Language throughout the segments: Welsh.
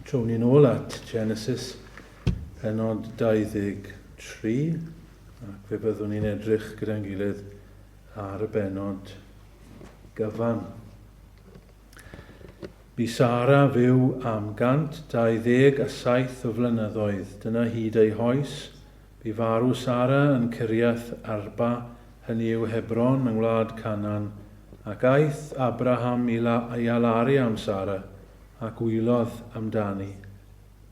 Trown ni'n ôl at Genesis penod 23 ac fe byddwn ni'n edrych gyda'n gilydd ar y benod gyfan. Bu Sara fyw am 127 o flynyddoedd, dyna hyd ei hoes Bu farw Sara yn Kiriath Arba, hynny yw Hebron yng ngwlad Canan, ac aeth Abraham i Lae-i-Alari am Sara, ac wylodd amdani.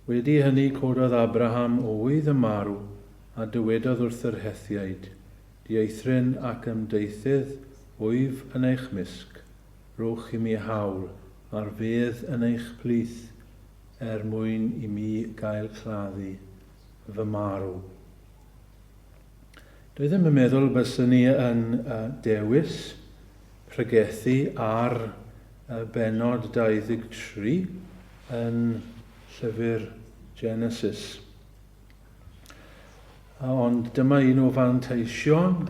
Wedi hynny cododd Abraham oedd yn marw, a dywedodd wrth yr Hethiaid, Dieithryn ac ymdeithydd wyf yn eich mysg, rhowch i mi haul ar fedd yn eich plith, er mwyn i mi gael claddu. fy marw. Dwi ddim yn meddwl byswn i yn dewis pregethu ar bennod 23 yn llyfr Genesis. Ond dyma un o fanteision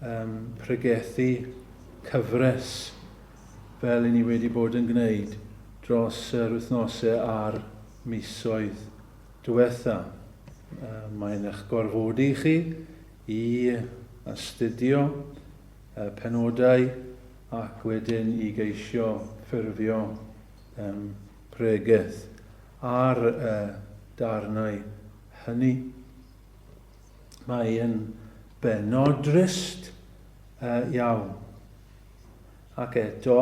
um, pregethu cyfres fel i ni wedi bod yn gwneud dros yr wythnosau a'r misoedd diwetha'. Mae'n eich gorfodi chi i astudio y penodau ac wedyn i geisio ffurfio pregeth ar y darnau hynny. Mae'n bennod drist iawn. Ac eto,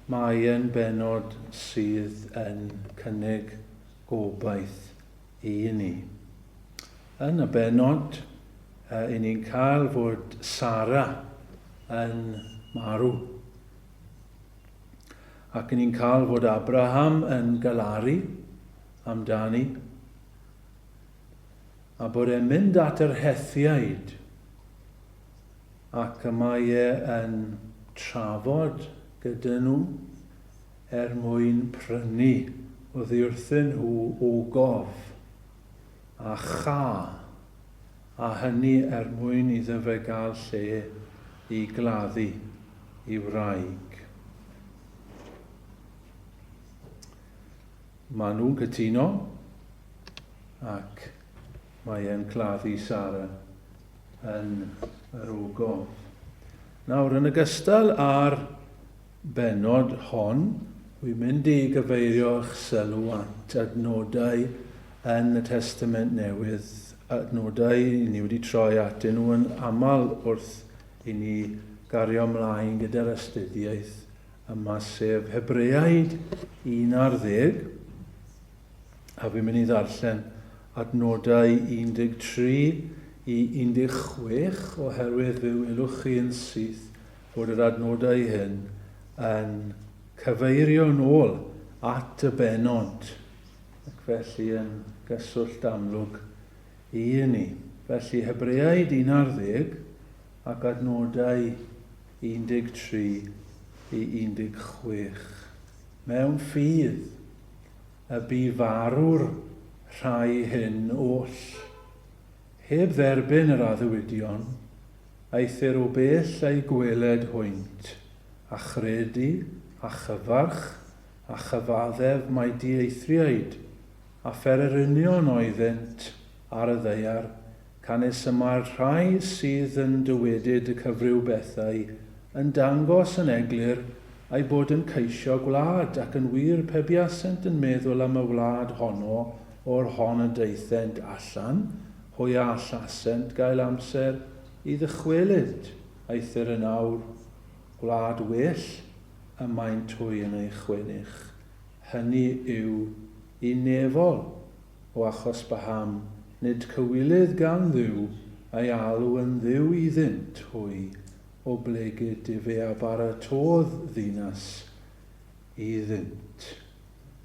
mae'n bennod sydd yn cynnig Gobaith i ni. Yn y bennod, i ni'n cael fod Sara yn marw. Ac i ni'n cael fod Abraham yn galaru amdani. A bod e'n mynd at yr Hethiaid. Ac y mae e yn trafod gyda nhw. er mwyn prynu oddiwrthyn nhw ogof a cha, a hynny er mwyn iddo fe gael lle i gladdu i wraig. Maen nhw'n cytuno ac mae e'n claddu Sara yn yr ogof. Nawr, yn ogystal â'r bennod hon, wi'n mynd i gyfeirio eich sylw at adnodau yn y Testament Newydd, adnodau i ni wedi troi atyn nhw yn aml wrth i ni gario ymlaen gyda'r astudiaeth yma, sef Hebreaid 1 ar ddeg, a fi'n mynd i ddarllen adnodau 13 i 16 oherwydd fe welwch chi yn syth fod yr adnodau hyn yn cyfeirio'n ôl at y bennod ac felly yn gyswllt amlwg i hynny. Felly, Hebreaid 11 ar ddeg ac adnodau 13 i 16. Mewn ffydd, y bu farw'r rhai hyn oll, heb dderbyn yr addewidion, Eithr o bell a'i gweled hwynt, a chredu, a chyfarch, a chyfaddef mai dieithriaid, a phererinion oeddent ar y ddaear, canys y mae'r rhai sydd yn dywedyd y cyfryw bethau yn dangos yn eglur eu bod yn ceisio gwlad, ac yn wir, pe buasent yn meddwl am y wlad honno, O'r hon y daethent allan, hwy a allasent gael amser i ddychwelyd, aeth yr yn awr, gwlad well y maent hwy yn ei chwennych, hyny yw, i nefol, o achos paham nid cywilydd gan Dduw ei alw yn Dduw iddynt hwy, o blegid ef ea baratodd ddinas iddynt.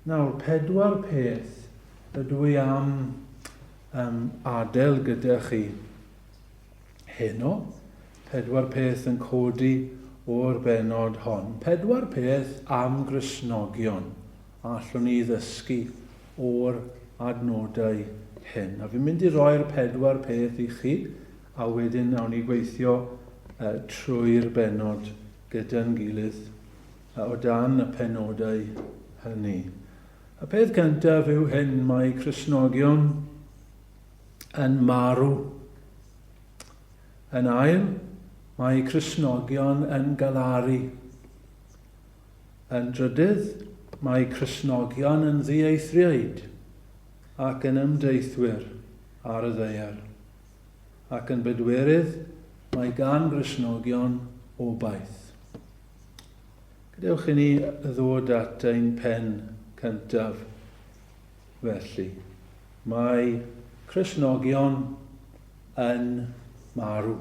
Nawr, pedwar peth ydw i am um, adael gyda chi heno. Pedwar peth yn codi o'r benod hon. Pedwar peth am grisnogion allwn ni ddysgu o'r adnodau hyn. A fi'n mynd i roi'r pedwar peth i chi, a wedyn awn ni gweithio uh, trwy'r benod gyda'n gilydd. A o dan y penodau hynny. Y peth cyntaf yw hyn, mae Cristnogion yn marw. Yn ail, mae Cristnogion yn galaru. Yn drydydd, mae Cristnogion yn ddieithriaid ac yn ymdeithwyr ar y ddeiar. Ac yn bedwerydd, mae gan Gristnogion obaith. Gadewch i ni ddod at ein pen cyntaf, felly. Mae Cristnogion yn marw.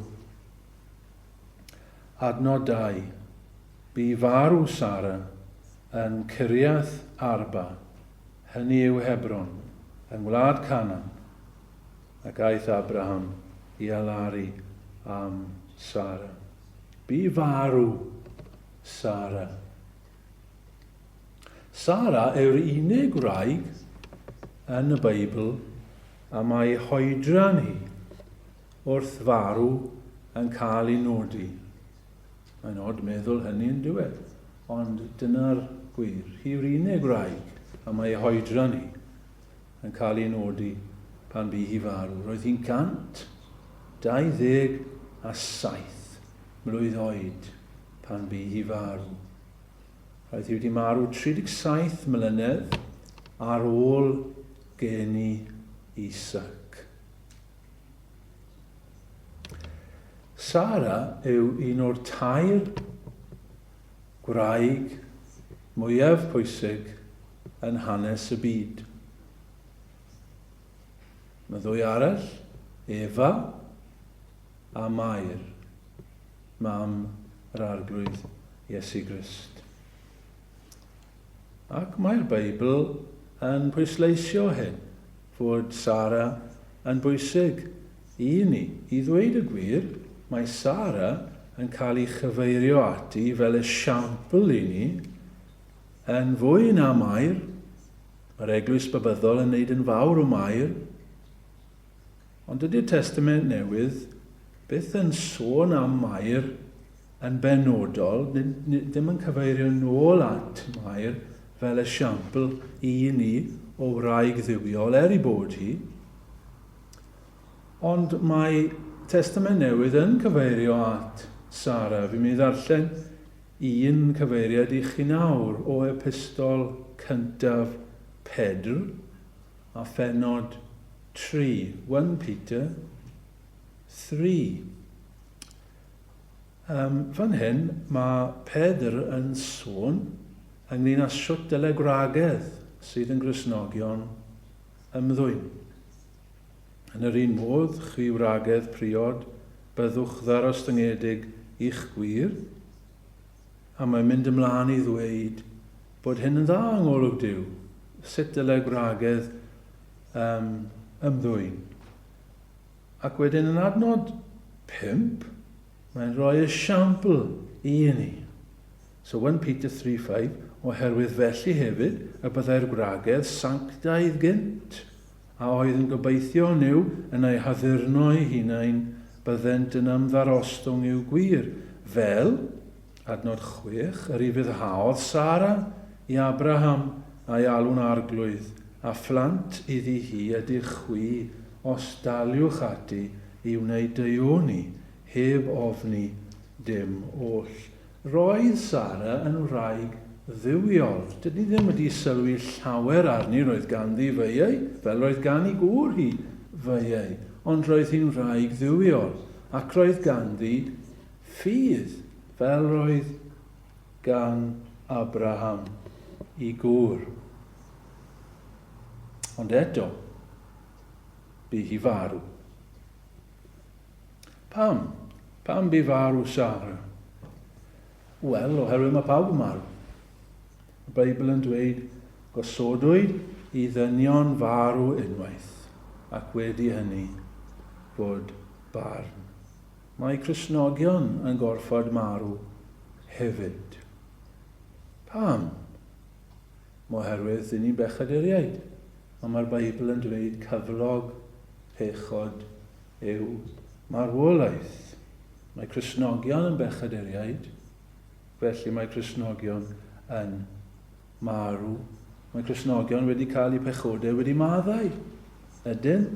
Adnod 2. Bu farw Sara yn Kiriath Arba, hynny yw Hebron, yng ngwlad Canan, ac aeth Abraham i alaru am Sara. Bu farw Sara. Sara yw'r unig wraig yn y Beibl a mae hoedran hi wrth farw yn cael ei nodi. Mae'n od meddwl hynny yn diwedd, ond dyna'r gwir. Hi yw'r unig wraig a mae hoedran hi yn cael ei nodi pan bu hi farw. Roedd hi'n 127 mlwydd oed pan bu hi farw. Roedd hi wedi marw 37 mlynedd ar ôl geni Isaac. Sara yw un o'r tair gwraig mwyaf pwysig yn hanes y byd. Mae ddwy arall, Efa a Mair, mam yr Arglwydd Iesu Grist. Ac mae'r Beibl yn pwysleisio hyn, fod Sara yn bwysig i ni. I ddweud y gwir, mae Sara yn cael ei chyfeirio ati fel esiampl i ni yn fwy na Mair, yr Eglwys Babyddol yn wneud yn fawr o Mair, Ond dydy'r Testament Newydd byth yn sôn am Mair yn benodol, ddim yn cyfeirio nôl at Mair fel esiampl i ni o wraig dduwiol, er ei bod hi. Ond mae Testament Newydd yn cyfeirio at Sara. Fi'n mynd i ddarllen un cyfeiriad i chi nawr o epistol cyntaf Pedr, A phennod tri, one Peter, three. Um, fan hyn, mae Pedr yn sôn ynglyn â sut dyle gwragedd sydd yn grisnogion ymddwyn. Yn yr un modd, chwi wragedd priod, byddwch ddarostyngedig i'ch gwir, a mae'n mynd ymlaen i ddweud bod hyn yn dda yng ngolwg Duw, sut dylai gwragedd um, ymddwyn. Ac wedyn yn adnod pump, mae'n rhoi esiampl i ni. So 1 Peter 3.5, oherwydd felly hefyd y byddai'r gwragedd sanctaidd gynt a oedd yn gobeithio neu yn ei haddurno eu hunain, byddent yn ymddarostwng i'w gwir, fel, adnod chwech, yr ufuddhaodd Sara i Abraham a'i alw'n arglwydd, a phlant iddi hi ydych chwi os daliwch ati i wneud deuoni heb ofni dim oll. Roedd Sara yn wraig dduwiol. Dydyn ni ddim wedi sylwi llawer arni, roedd ganddi feiau, fel roedd gan ei gŵr hi feiau, ond roedd hi'n wraig dduwiol, ac roedd ganddi ffydd, fel roedd gan Abraham, ei gŵr. Ond eto, bu hi farw. Pam? Pam bu farw Sara? Wel, oherwydd mae pawb yn marw. Y Beibl yn dweud, gosodwyd i ddynion farw unwaith, ac wedi hynny, bod barn. Mae Cristnogion yn gorfod marw hefyd. Pam? Oherwydd dyn ni'n bechaduriaid, ond mae'r Beibl yn dweud cyflog pechod yw marwolaeth. Mae Cristnogion yn bechaduriaid, felly mae Cristnogion yn marw. Mae Cristnogion wedi cael eu pechodau wedi maddau. Ydyn?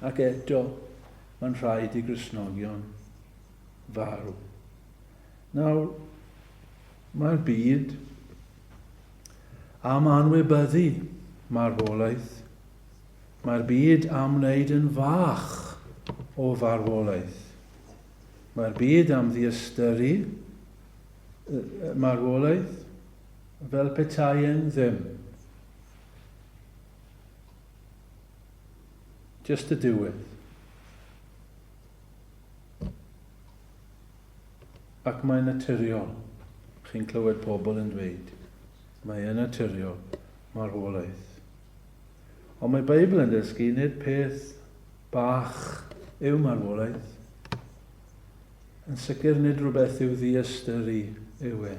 Ac eto, mae'n rhaid i Gristnogion farw. Nawr, mae'r byd am anwybyddu marwolaeth, mae'r byd am wneud yn fach o farwolaeth. Mae'r byd am ddiystyru marwolaeth fel petai e'n ddim. Just y diwedd. Ac mae'n naturiol, chi'n clywed pobl yn dweud, mae e'n naturiol, marwolaeth. Ond mae Beibl yn dysgu nid peth bach yw marwolaeth. Yn sicr nid rhywbeth i'w ddiystyru yw e,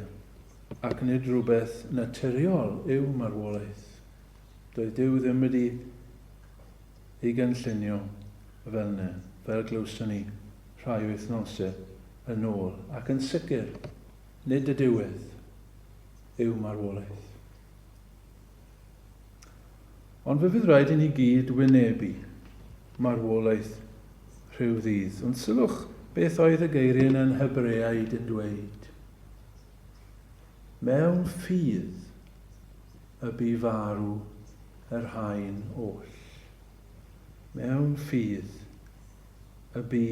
ac nid rhywbeth naturiol yw marwolaeth. Doedd Duw ddim wedi i gynllunio fel 'ny, fel glywson ni rhai wythnosau yn ôl, ac yn sicr, nid y diwedd yw marwolaeth. Ond fe fydd rhaid i ni gyd wynebu marwolaeth rhyw ddydd. Ond sylwch beth oedd y geiriau yn Hebreaid yn dweud. Mewn ffydd y bu farw yr haen oll. Mewn ffydd, y bu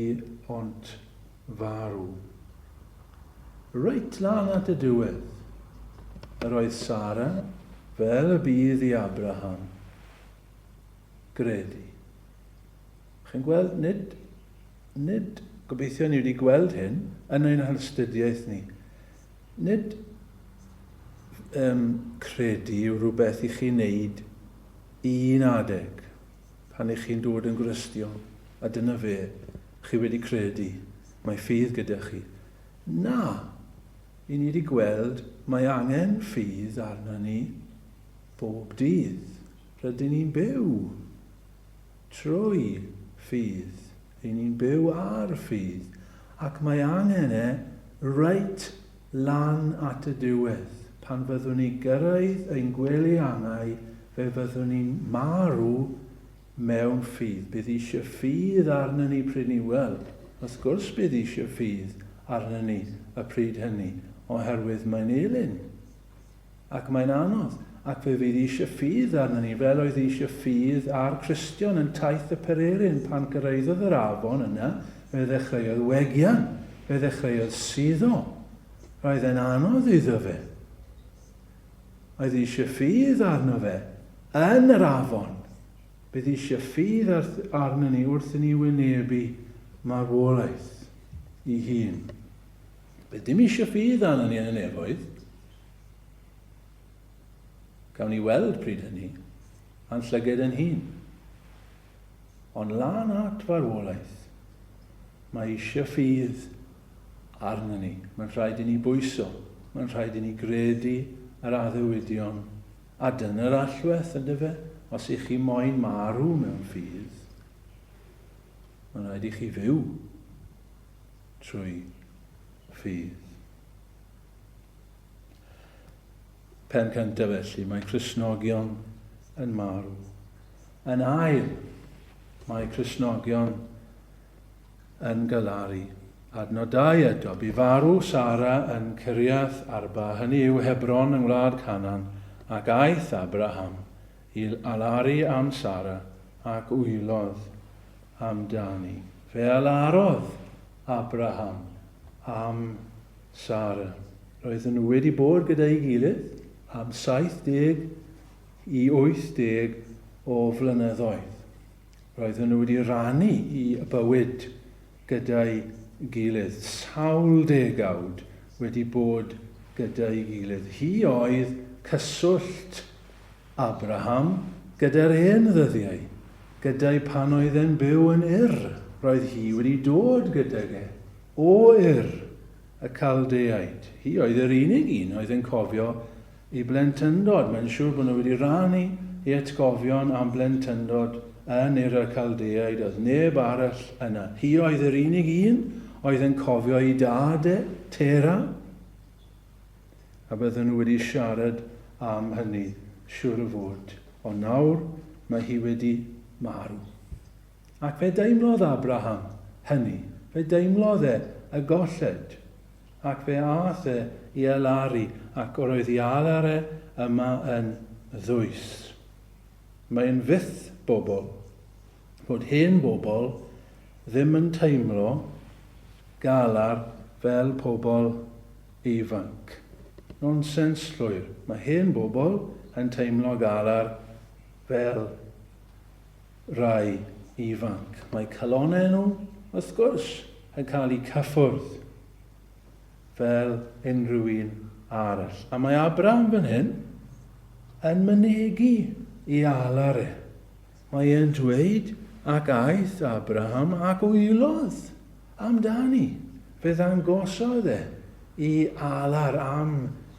ont farw. Reit lan at y diwedd, yr oedd Sara fel y bydd i Abraham. Gredu. Chi'n gweld, nid, nid, gobeithio ni wedi gweld hyn yn ein halstudiaeth ni. Nid ym credu yw rhywbeth i chi wneud i un adeg pan ych chi'n dod yn Gristion a dyna fe, chi wedi credu, mae ffydd gyda chi. Na! I ni wedi gweld mae angen ffydd arna ni bob dydd rydyn ni'n byw. Trwy ffydd. Ry'n ni'n byw ar ffydd, ac mae angen e reit lan at y diwedd. Pan fyddwn ni gyrraedd ein gwely angau, fe fyddwn ni'n marw mewn ffydd. Bydd eisiau ffydd arnon ni pryd 'ny? Wel, wrth gwrs bydd eisiau ffydd arnon ni y pryd hynny, oherwydd mae'n elyn. Ac mae'n anodd, ac fe fydd eisiau ffydd arnyn ni, fel oedd eisiau ffydd ar Cristion yn Taith y Pererin pan gyrraeddodd yr afon yna, fe ddechreuodd wegian, fe ddechreuodd suddo. Roedd e'n anodd iddo fe. Oedd eisiau ffydd arno fe, yn yr afon. Bydd eisiau ffydd arnyn ni wrth i ni wynebu marwolaeth i hun. Bydd dim eisiau ffydd arno ni yn y nefoedd. Gawn ni weld pryd hynny, a'n llyged yn hun. Ond lan at farwolaeth, mae eisiau ffydd arno ni. Mae'n rhaid i ni bwyso, mae'n rhaid i ni gredu yr addewidion, a dyna'r allwedd yn dyfe, os ych chi moyn marw mewn ffydd, mae'n rhaid i chi fyw trwy ffydd. Pen cyntaf felly, mae Cresnogion yn marw. Yn ail, mae Cresnogion yn galaru. Adnodau eto, bu farw Sara yn Cyriath Arba, hynny yw Hebron yng ngwlad Canan, ac aeth Abraham i alaru am Sara, ac wylodd amdani. Fe alarodd Abraham am Sara. Roedden nhw wedi bod gyda'i gilydd am 70 i 80 o flynyddoedd. Roedden nhw wedi rannu i bywyd gyda'i gilydd, sawl degawd wedi bod gyda'i gilydd. Hi oedd cyswllt Abraham, gyda'r hen ddyddiau, gyda'i pan oedd e'n byw yn Ur, roedd hi wedi dod gydag e, o Ur, y Caldeaid. Hi oedd yr unig un oedd yn cofio ei blentyndod. Mae'n siŵr bod nhw wedi rannu ei atgofion am blentyndod yn Ur y Caldeaid. Oedd neb arall yna. Hi oedd yr unig un oedd yn cofio ei dad e, Tera. a bydden nhw wedi siarad am hynny, siŵr o fod, ond nawr mae hi wedi marw. Ac fe deimlodd Abraham hynny, fe deimlodd e y golled, ac fe aeth e i alaru, ac yr oedd i alar e yma yn ddwys. Mae yn fyth bobl bod hen bobl ddim yn teimlo galar fel pobl ifanc. Nonsens llwyr. Mae hen bobl yn teimlo galar fel rhai ifanc. Mae calonnau nhw, wrth gwrs, yn cael eu cyffwrdd fel unrhyw un arall. A mae Abraham fan hyn yn mynegi i alar e. Mae e'n dweud, Ac aeth Abraham ac wylodd am dani, fe ddangosodd e i Alar am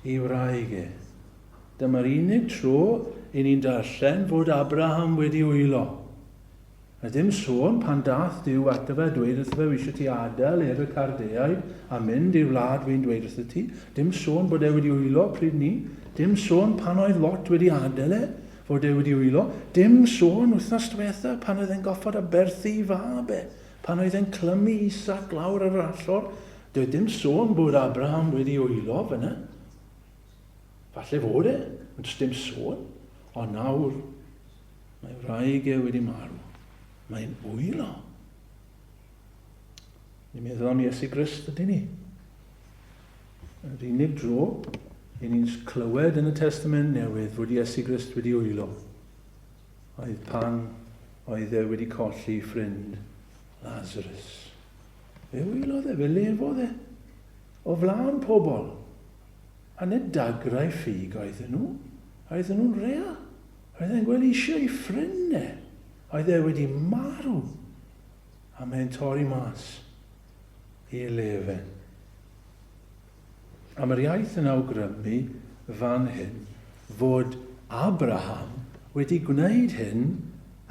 ei wraig e. Dyma'r unig tro i ni'n darllen fod Abraham wedi wylo. A ddim sôn pan dath Duw ato fe a dweud wrtho fe, Wisio ti adael Ur y Cardeaid a mynd i'r wlad fi'n dweud wrtho ti. Dim sôn bod e wedi wylo pryd ni. Dim sôn pan oedd Lot wedi adael e fod e wedi wylo, dim sôn wythnos dwetha pan oedd e'n goffod aberthu i fab e, pan oedd e'n clymu Isaac lawr ar yr allor, doedd dim sôn bod Abraham wedi wylo fanna. Falle fod e, ond does dim sôn, ond nawr mae wraig e wedi marw, mae'n wylo. Ni'n meddwl am Iesu Grist ydyn ni. Yr unig dro i ni'n clywed yn y Testament Newydd fod Iesu Grist wedi wylo oedd pan oedd e wedi colli ffrind Lazarus. Fe wylodd e, fe lefodd e o flaen pobl. A nid dagrau ffug oedden nhw, oedden nhw'n real. Oedd e'n gweld eisiau ei ffrind e. Oedd e wedi marw. a mae'n torri mas ei le fe. A mae'r iaith yn awgrymu fan hyn fod Abraham wedi gwneud hyn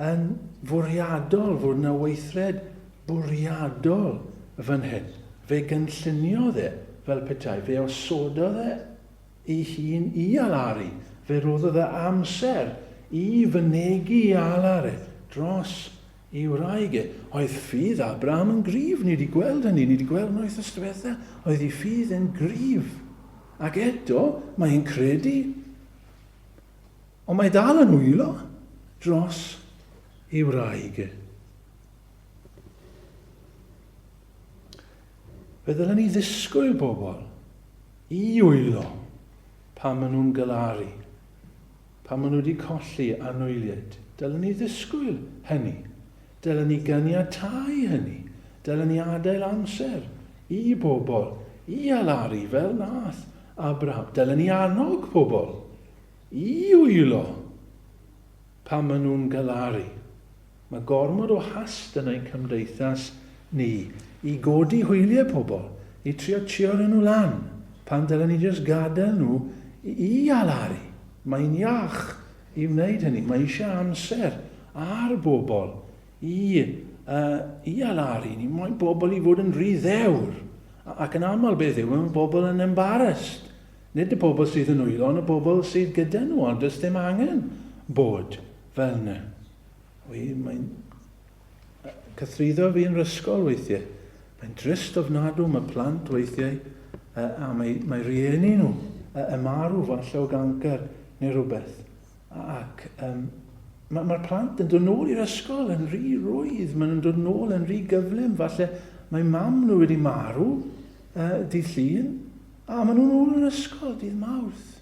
yn fwriadol, fod yna weithred bwriadol fan hyn. Fe gynlluniodd e fel petai, fe osododd e ei hun i alaru, fe roddodd e amser i fynegi i alaru dros Y wraig, Oedd ffydd Abraham yn gryf? Ni 'di gweld hynny, ni 'di gweld hwnna wythnos diwetha'. Oedd ei ffydd e'n gryf. Ac eto, mae e'n credu. Ond mae dal yn wylo dros ei wraig. Fe ddylen ni ddisgwyl bobl i wylo pan maen nhw'n galaru. Pan maen nhw wedi colli anwyliaid, dylen ni ddisgwyl hynny. Dylen ni ganiatáu hynny. Dylen ni adael amser i bobl i alaru fel nath Abraham. Dylen ni annog pobl i wylo pan maen nhw'n galaru. Mae gormod o hast yn ein cymdeithas ni i godi hwyliau pobl, i trio tshio rhoi nhw lan, pan dylen ni jyst gadael nhw i alaru. Mae'n iach i wneud hynny, mae eisiau amser ar bobl i i alaru, ni moyn pobl i fod yn rhy ddewr, ac yn aml beth yw, mae pobl yn embarrassed, nid y pobl sydd yn nwylo ond y pobl sydd gyda nhw, ond does dim angen bod fel yna. Wy, mae'n cythruddo fi yn yr ysgol weithiau. Mae'n drist ofnadw, mae plant weithiau, uh, a mae, mae rieni nhw uh, y marw falle o ganker neu rhywbeth. Ac um, mae'r ma plant yn dod nôl i'r ysgol yn rhy rwydd, maen nhw'n dod nôl yn rhy gyflym, falle mae mam nhw wedi marw uh, dydd llun, a maen nhw'n ôl yn ysgol dydd mawrth.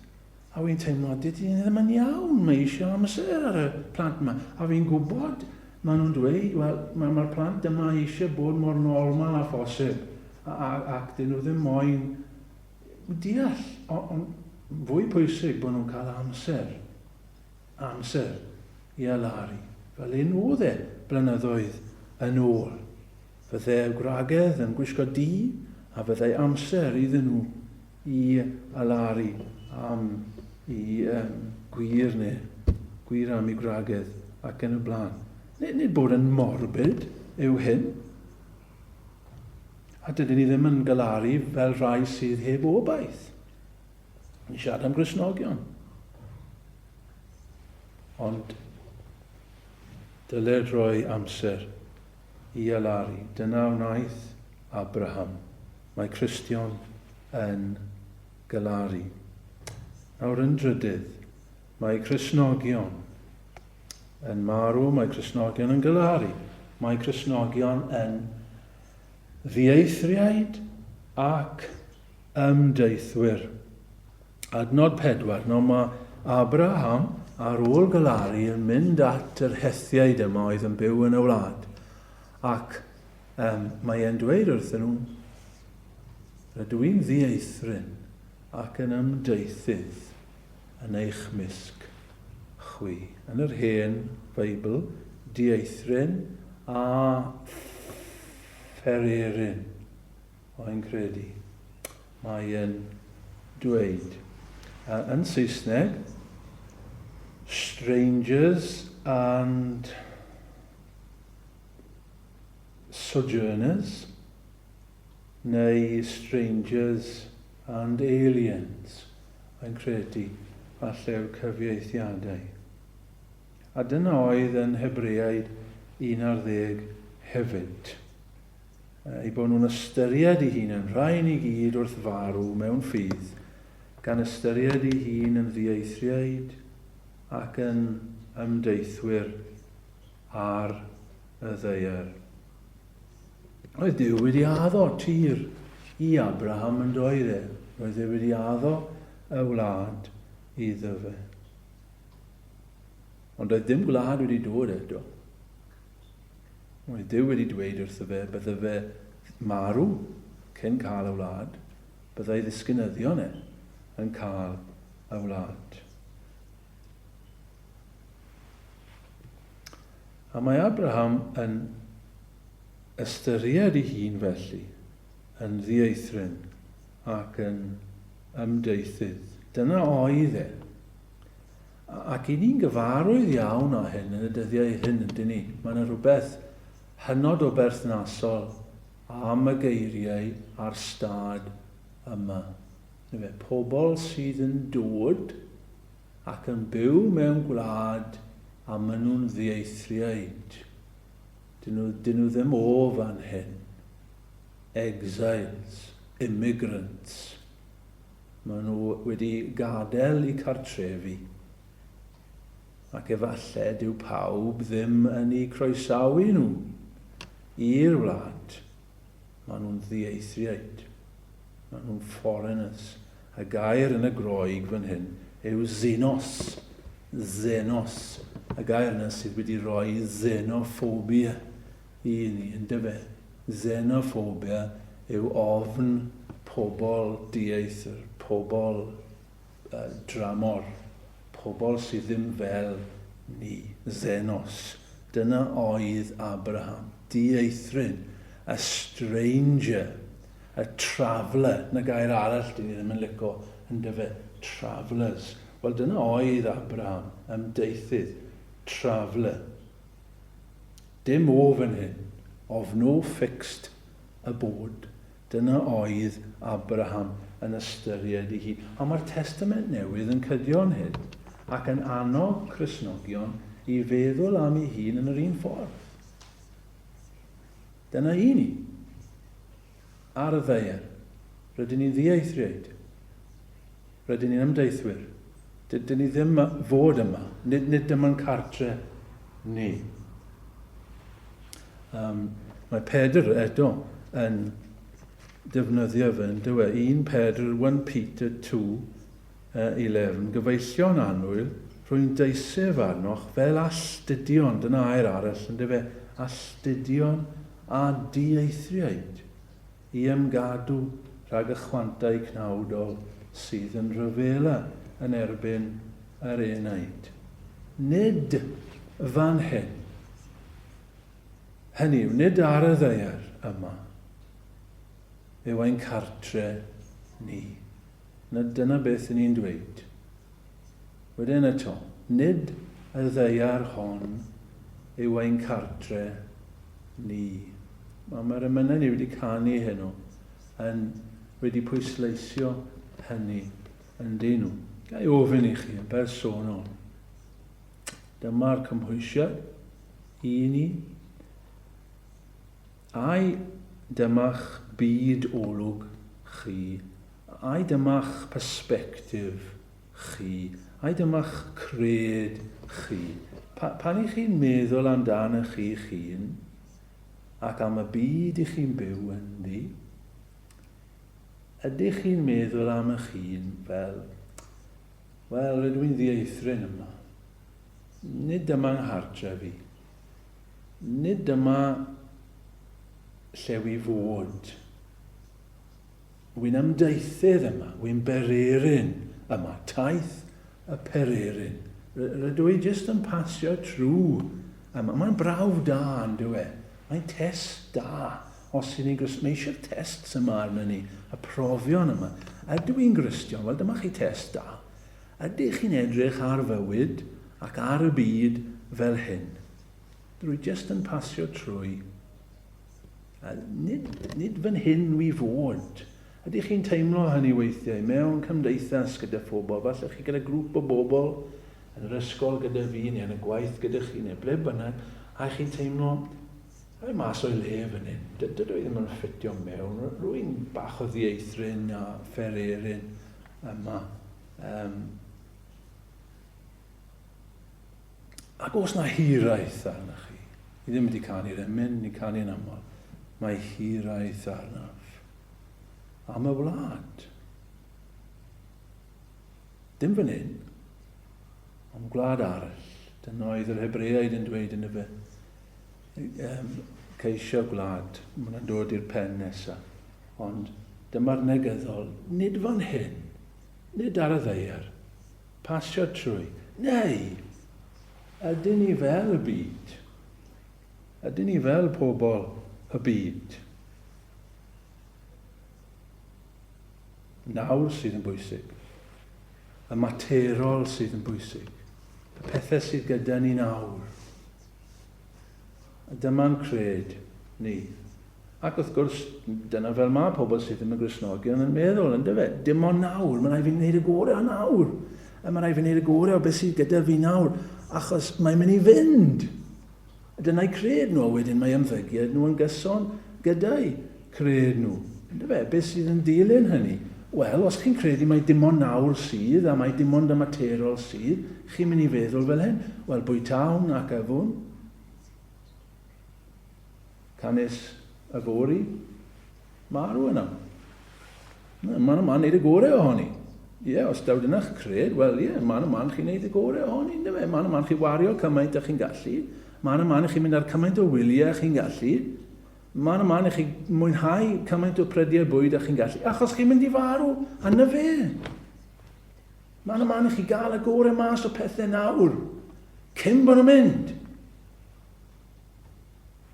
A fi'n teimlo, dydy hyn ddim yn iawn, mae eisiau amser ar y plant yma. A fi'n gwybod, maen nhw'n dweud, wel, mae'r ma plant yma eisiau bod mor normal a phosib, ac dyn nhw ddim moyn deall, ond fwy pwysig bod nhw'n cael amser, amser i alaru, fel un oedd e blynyddoedd yn ôl. Fyddai'r gwragedd yn gwisgo du, a fyddai amser iddyn nhw i alaru am y gwir neu gwir am ei gwragedd ac yn y blaen. Nid, nid bod yn morbid yw hyn. A dydyn ni ddim yn galaru fel rhai sydd heb obaith. Ni siarad am grisnogion. Ond dyled rhoi amser i alaru. Dyna wnaeth Abraham. Mae Cristion yn galaru. Nawr yn drydydd, mae Crisnogion yn marw, mae Crisnogion yn galaru. Mae Crisnogion yn ddieithriaid ac ymdeithwyr. Adnod 4, Nawr mae Abraham, ar ôl galaru, yn mynd at yr Hethiaid yma oedd yn byw yn y wlad. Ac um, mae e'n dweud wrthyn nhw, rydw i'n ddieithryn ac yn ymdeithydd yn eich mysg chwi. Yn yr hen Feibl, dieithryn a phererin. mae'n credu. Mae e'n dweud. A yn Saesneg, strangers and sojourners, neu strangers and aliens, mae'n credu, falle yw'r cyfieithiadau. A dyna oedd yn Hebreaid 11 hefyd. eu bod nhw'n ystyried i hun yn rhai ni gyd wrth farw mewn ffydd, gan ystyried i hun yn ddieithriaid ac yn ymdeithwyr ar y ddeier. Roedd Dyw wedi addo tir i Abraham yn doedd e, roedd e wedi addo y wlad iddo fe. Ond doedd dim gwlad wedi dod eto. Mae Duw wedi dweud wrtho fe bydde fe marw cyn cael y wlad, byddai ddisgynyddion e yn cael y wlad. A mae Abraham yn ystyried ei hun felly yn ddieithryn ac yn ymdeithydd. Dyna oedd e. Ac 'y ni'n gyfarwydd iawn â hyn yn y dyddiau hyn, yndyn ni? Mae 'na rywbeth hynod o berthnasol am y geiriau a'r stad yma, yndyfe? Pobl sydd yn dod ac yn byw mewn gwlad a maen nhw'n ddieithriaid. Dyn nhw, dyn nhw ddim o fan hyn. Exiles, immigrants. Maen nhw wedi gadael eu cartrefi, ac efallai dyw pawb ddim yn eu croesawu nhw i'r wlad. Maen nhw'n ddieithriaid. Maen nhw'n foreigners. Y gair yn y Groeg fan hyn yw xenos. Xenos. Y gair yna sydd wedi rhoi xenophobia i ni, yndyfe? Xenophobia yw ofn pobl dieithr, pobl dramor, pobl sydd ddim fel ni, xenos. Dyna oedd Abraham, dieithryn, a stranger, a traveller, 'na gair arall dyn ni ddim yn lico, yndyfe? Travellers. Wel, dyna oedd Abraham, ymdeithydd, traveller. Dim ofn hyn, of no fixed abode, dyna oedd Abraham yn ystyried ei hun. A mae'r Testament Newydd yn cydio'n hyd ac yn annog Cristnogion i feddwl am ei hun yn yr un ffordd. Dyna un i. Ar y ddaear, rydyn ni'n ddieithriaid. Rydyn ni'n ymdeithwyr. Dydyn ni ddim am fod yma. Nid, nid dyma'n cartre ni. Um, mae Pedr eto yn defnyddio fe, yn dywe, 1 Pedr, 1 Peter 2, Y lefn gyfeillio'n annwyl, rwy'n deisef arnoch fel alltudion, dyna air arall, ynde fe, alltudion a dieithriaid, i ymgadw rhag y chwantau cnawdol sydd yn rhyfela yn erbyn yr enaid. Nid fan hyn, hynny yw, nid ar y ddaear yma, yw ein cartre ni. na dyna beth ry'n ni'n dweud. Wedyn eto, nid y ddaear hon yw ein cartre ni. Wel, mae'r emynau ni wedi canu heno yn wedi pwysleisio hynny yn dyn nhw. Ga i ofyn i chi yn bersonol, dyma'r cymhwysiad i ni Ai dyma'ch byd olwg chi? Ai dyma'ch persbectif chi? Ai dyma'ch cred chi? Pa, pan i chi'n meddwl amdanoch chi'ch hun ac am y byd i chi'n byw ynddi, ydych chi'n meddwl am ych hun fel, wel, rydw i'n ddieithryn yma. Nid dyma nghartref i. Nid dyma lle wi fod. Wi'n ymdaethydd yma, wi'n bererin yma, taith y pererin. Rydw i jyst yn pasio trwy yma. Mae'n brawf da, yn dyw e? Mae'n test da, os y'n ni'n Gristion. Mae eisiau'r tests yma arnyn ni, y profion yma. Ydw i'n Gristion? Wel, dyma chi test da. Ydych chi'n edrych ar fywyd ac ar y byd fel hyn? Rwy jyst yn pasio trwy. A nid, nid fan hyn wi fod. Ydych chi'n teimlo hynny weithiau mewn cymdeithas gyda phobl? Falle chi gyda grŵp o bobl yn yr ysgol gyda fi neu yn y gwaith gyda chi neu ble bynnag a chi'n teimlo rhaid mas o'i le fan hyn. Dydw i ddim yn ffitio mewn. Rwy'n bach o ddieithryn a phererin. yma. Um, ac os na hiraeth arna chi, ni ddim wedi canu'r emyn, ni canu'n aml, mae hiraeth arnaf am y wlad. Dim fan hyn, ond gwlad arall. Dyna oedd yr Hebreaid yn dweud yn y fe. ceisio gwlad, mae hwnna'n dod i'r pen nesaf. Ond dyma'r negyddol, nid fan hyn, nid ar y ddeiar, pasio trwy, neu ydyn ni fel y byd? Ydyn ni fel pobl y byd? nawr sydd yn bwysig, y materol sydd yn bwysig, y pethau sydd gyda ni nawr. A dyma'n cred ni. Ac wrth gwrs, dyna fel mae pobl sydd ddim yn Gristnogion yn meddwl, yn dyfe? Dim ond nawr, mae rai fi wneud y gore o nawr. A mae rai fi wneud y gore o beth sydd gyda fi nawr, achos mae'n mynd i fynd. Dyna'i cred nhw, a wedyn mae ymddygiad nhw yn gyson gyda'i creu nhw. Yndyfe? Beth sydd yn dilyn hynny? Wel, os chi'n credu mai dim ond nawr sydd, a mai dim ond y materol sydd, chi'n mynd i feddwl fel hyn, wel, bwytawn ac yfwn, canys yfory, marw yna. Maen nhw'n wneud y gorau ohoni. Ie, yeah, os daw dyna'ch cred, wel ie, yeah, man y man chi'n neud y gore ohoni, ynddo fe? Man y man chi'n wario cymaint â chi'n gallu, man y man chi'n mynd ar cymaint o wyliau chi'n gallu, Mae 'na man i chi mwynhau cymaint o prediau bwyd a chi'n gallu, achos chi'n mynd i farw, a na fe. Mae 'na man i chi gael y gorau mas o pethau nawr, cyn bod nhw'n mynd.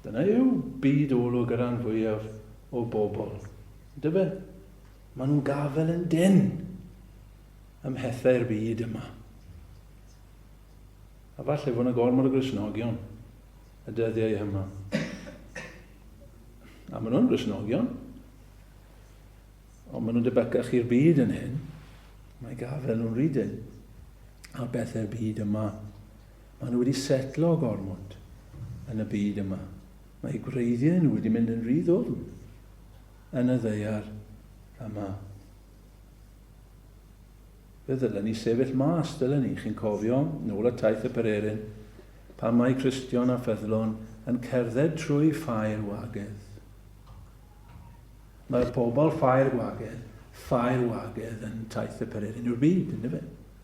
Dyna yw byd olwg y rhan fwyaf o bobl. Dyfe? Mae nhw'n gafel yn den ym mhethau'r byd yma. A falle fod yna gormod o grisnogion y dyddiau yma. A maen nhw'n grisnogion. Ond maen nhw'n debygach i'r byd yn hyn. Mae gafel nhw'n rydyn. A bethau'r byd yma. Maen nhw wedi setlo gormod yn y byd yma. Mae gwreiddiau nhw wedi mynd yn rhy ddwfn yn y ddeiar yma. Fe ddylen ni sefyll mas, dylen ni, chi'n cofio, nôl at taith y pererin, pan mae Cristion a ffyddlon yn cerdded trwy Ffair Wagedd. Mae pobl Ffair Wagedd, Ffair Wagedd yn taith y pererin yw'r byd, yndyfe?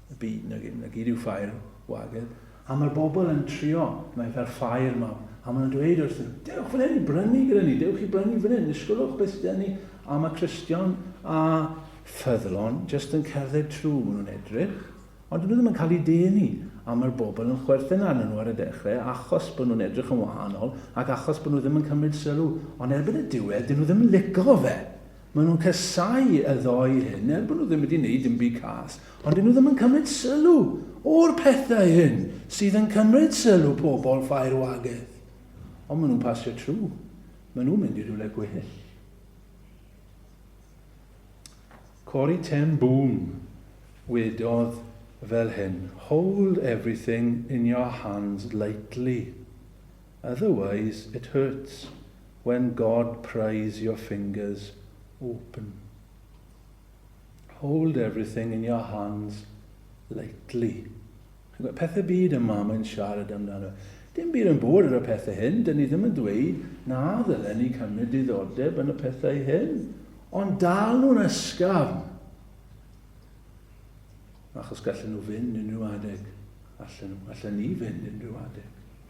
Y byd, na, na gyd yw Ffair Wagedd. A mae'r bobl yn trio, mae fel ffair mawr, a maen nhw'n dweud wrthyn nhw, dewch fan hyn i brynu gyda ni, dewch i brynu fan hyn, ysgolwch beth sydd ni, a mae Cristion a ffyddlon jyst yn cerdded trwy, maen nhw'n edrych, ond dyn nhw ddim yn cael ei denu, a mae'r bobl yn chwerthin arnyn nhw ar y dechrau achos bod nhw'n edrych yn wahanol ac achos bod nhw ddim yn cymryd sylw, ond erbyn y diwedd dyn nhw ddim yn lico fe. Maen nhw'n casáu y ddou hyn, er bod nhw ddim wedi wneud dim byd cas, ond 'dyn nhw ddim yn cymryd sylw o'r pethau hyn sydd yn cymryd sylw pobl Ffair Wageth. Ond maen nhw'n pasio trw. Maen nhw'n mynd i rywle gwell. Corey Ten Boom wedodd fel hyn, Hold everything in your hands lightly. Otherwise it hurts when God pries your fingers open. Hold everything in your hands lightly. Pethau byd y mam yn siarad amdano. Dim byd yn bod ar y pethau hyn, dyn ni ddim yn dweud na ddylen ni cymryd diddordeb yn y pethau hyn, ond dal nhw'n ysgafn, achos gallen nhw fynd unrhyw adeg, allen nhw, allen ni fynd unrhyw adeg.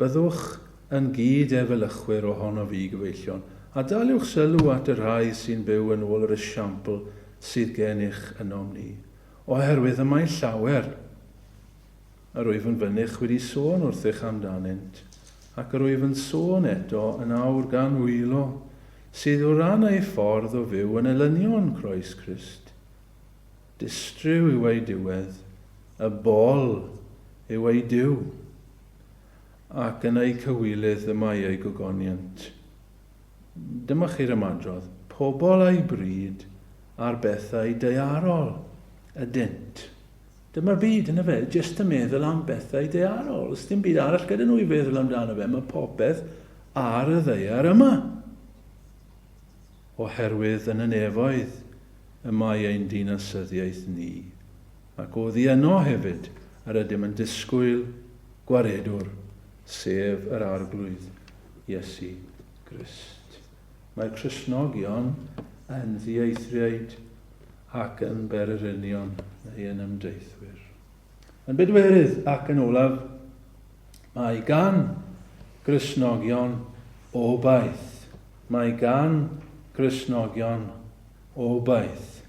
Byddwch yn gyd-efelychwyr ohonof i, gyfeillion, a daliwch sylw at y rhai sy'n byw yn ôl yr esiampl sydd gennych ynom ni, oherwydd y mae llawer yr wyf yn fynych wedi sôn wrthych amdanynt, ac yr wyf yn sôn eto yn awr gan wylo, sydd o ran eu ffordd o fyw yn elynion Croes Crist. Distryw yw eu diwedd, y bol yw eu Duw. ac yn eu cywilydd y mae eu gogoniant. Dyma chi'r ymadrodd, pobl a'u bryd ar bethau daearol ydynt. Dyma'r byd, yn efe, jyst yn meddwl am bethau daearol. Os dim byd arall gyda nhw i feddwl amdano fe, mae popeth ar y ddaear yma. Oherwydd yn y nefoedd y mae ein dinasyddiaeth ni. ac oddi yno hefyd yr ydym yn disgwyl Gwaredwr, sef yr Arglwydd, Iesu Grist. Mae Cristnogion yn ddieithriaid ac yn bererinion neu yn ymdeithwyr. Yn bedwerydd ac yn olaf, mae gan Gristnogion obaith. Mae gan Gristnogion obaith.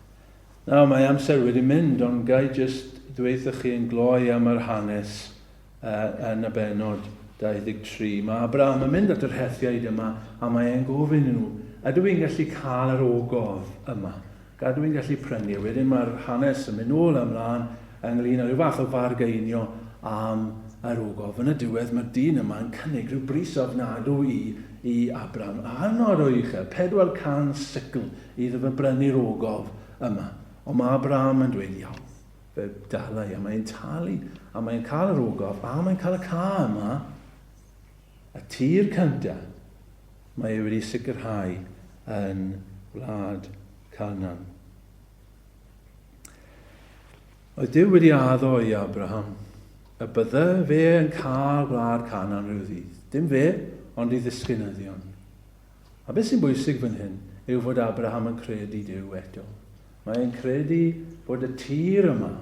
Nawr mae amser wedi mynd ond gai jyst ddweuthoch chi yn gloi am yr hanes yn y bennod 23. Mae Abraham yn mynd at yr Hethiaid yma a mae e'n gofyn i nhw, ydw i'n gallu cael yr ogof yma? Gadw i'n gallu prynu? Wedyn mae'r hanes yn mynd nôl a mlaen ynglyn â rhyw fath o fargeinio am yr ogof. Yn y diwedd mae'r dyn yma yn cynnig rhyw bris ofnadw i i Abraham, hynod o uchel, 400 sicl! Iddo fe brynu'r ogof yma. Ond mae Abraham yn dweud, Iawn, fe dala i. A mae'n talu, a mae'n cael yr ogof, a mae'n cael y ca yma, y tir cynta, mae ei wedi sicrhau yn wlad Canaan. Oedd Dyw wedi addo i Abraham y bydde fe yn cael wlad Canaan rhyw ddydd. Dim fe, ond ei ddisgynyddion. A beth sy'n bwysig fan hyn yw fod Abraham yn credu Duw eto. Mae e'n credu bod y tir yma,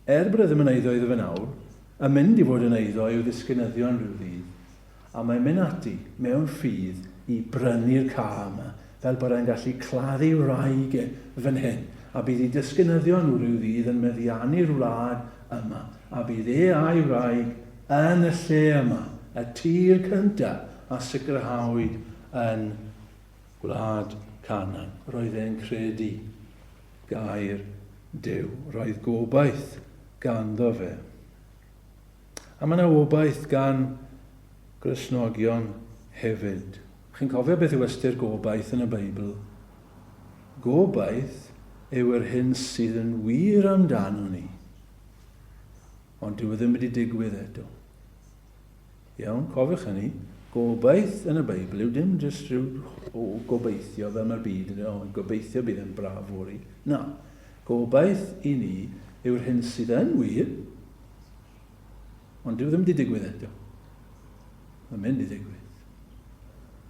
er bod e ddim yn eiddo iddo fe nawr, yn mynd i fod yn eiddo i'w ddisgynyddion rhyw ddydd. A mae'n mynd ati, mewn ffydd, i brynu'r ca yma, fel bod e'n gallu claddu wraig e fan hyn, a bydd ei disgynyddion nhw rhyw ddydd yn meddiannu'r wlad yma, a bydd e a'i wraig yn y lle yma, y tir cyntaf a sicrhawyd yn gwlad Canan. Roedd e'n credu gair Duw. Roedd gobaith ganddo fe. A mae yna obaith gan Gristnogion hefyd. Chi'n cofio beth yw ystyr gobaith yn y Beibl? Gobaith yw yr hyn sydd yn wir amdano ni. Ond dyw e ddim wedi digwydd eto. Iawn, cofiwch hynny. Gobaith yn y Beibl yw dim jyst rhyw o gobeithio fel mae'r byd yn o, gobeithio bydd yn braf fori. Na, gobaith i ni yw'r hyn sydd yn wir, ond dyw e ddim wedi digwydd eto. Mae'n mynd i ddigwydd.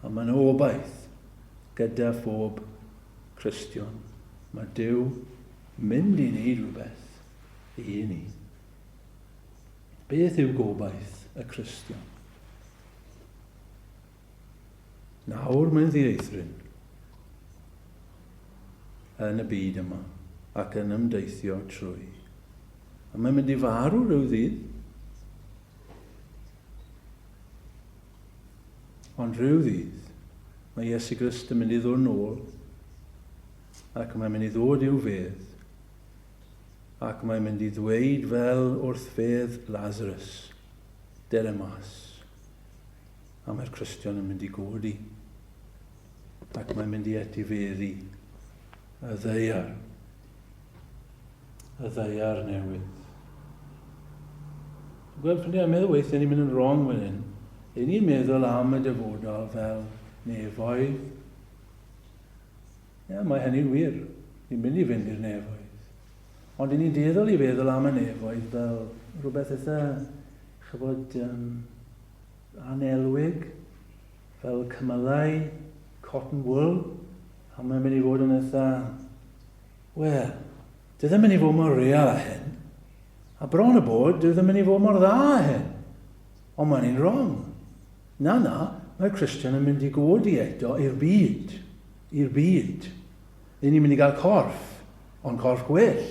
A mae'n obaith gyda phob Cristion. Mae Dyw mynd i wneud rhywbeth ei hun i. Beth yw gobaith y Cristion? Nawr mae'n ddieithryn yn y byd yma ac yn ymdeithio trwy. A mae'n mynd i farw rhyw ddydd. Ond rhyw ddydd, mae Iesu Grist yn mynd i ddod yn ôl ac mae'n mynd i ddod i'w fedd ac mae'n mynd i ddweud fel wrth fedd Lazarus, dere mas. A mae'r Cristion yn mynd i godi, ac mae'n mynd i etifeddu y ddeiar, y ddeiar newydd. Gweld pan ni'n meddwl weithiau ni'n mynd yn wrong fan hyn, Y'n ni'n meddwl am y dyfodol fel nefoedd Ie, mae hynny'n wir. Ni'n mynd i fynd i'r nefoedd. Ond i ni'n dueddol i feddwl am y nefoedd fel rhywbeth eitha, chyfod, um, anelwig, fel cymylau, cotton wool, a mae'n mynd i fod yn eitha, wel, dwi ddim yn mynd i fod mor real a hyn, a bron y bod, dwi ddim yn mynd i fod mor dda a hyn. Ond mae'n un wrong. Na, na, mae'r Christian yn mynd i godi eto i'r byd. i'r byd. Ry'n ni'n mynd i gael corff, ond corff gwell,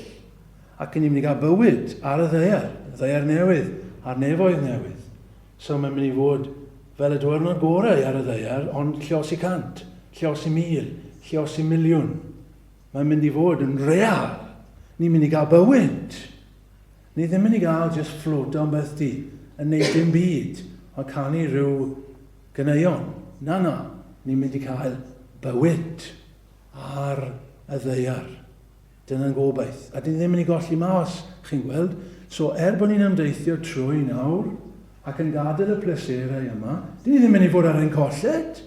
ac ry'n ni'n mynd i gael bywyd ar y ddaear, ddaear newydd, a'r nefoedd newydd. So mae'n mynd i fod fel y diwrnod gorau ar y ddaear, ond llios i cant, llios i mil, llios i miliwn. Mae'n mynd i fod yn real. Ni'n mynd i gael bywyd. Ni ddim yn mynd i gael just fflwt o'n beth di, yn neud dim byd, ond canu rhyw Ganeuon, Na, na, ni'n mynd i cael bywyd ar y ddaear. Dyna'n gobaith. A dyn ni ddim yn ei golli mas, chi'n gweld. So, er bod ni'n ymdeithio trwy nawr, ac yn gadael y pleserau yma, dyn ni ddim yn mynd i fod ar ein colled.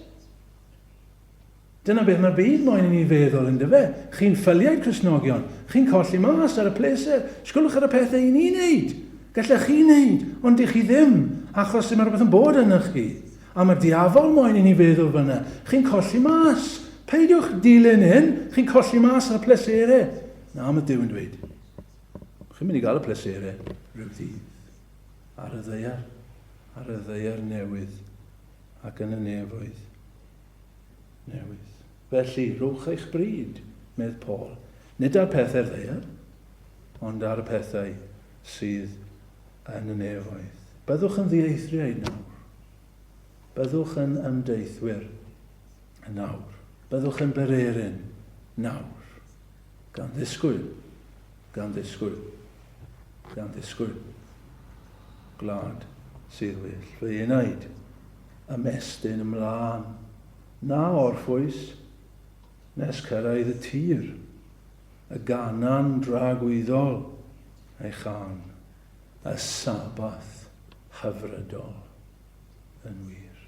Dyna beth mae'r byd moyn i ni feddwl, yndyfe? Chi'n ffyliaid Cristnogion. Chi'n colli mas ar y pleser. Sgwlwch ar y pethau i ni wneud. Gallech chi wneud, ond dych chi ddim, achos dyma rhywbeth yn bod ynoch chi. A mae'r diafol moyn i ni feddwl fyna. Chi'n colli mas. Peidiwch dilyn hyn. Chi'n colli mas ar y pleserau. Na, mae Duw yn dweud. Chi'n mynd i gael y pleserau rhyw ddydd. Ar y ddeiar. Ar y ddeiar newydd. Ac yn y nefoedd. newydd. Felly, rhowch eich bryd, medd Paul, nid ar pethau'r ddaear, ond ar y pethau sydd yn y nefoedd. Byddwch yn ddieithriaid nawr. Byddwch yn ymdeithwyr nawr. Byddwch yn bererin nawr. Gan ddisgwyl, gan ddisgwyl, gan ddisgwyl. Gwlad sydd well. Fy enaid, Ymestyn ymlân, na orffwys, nes cyrraedd y tir, y gannan dragwyddol, a'i chan, y Sabbath hyfrydol yn wir.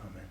Amen.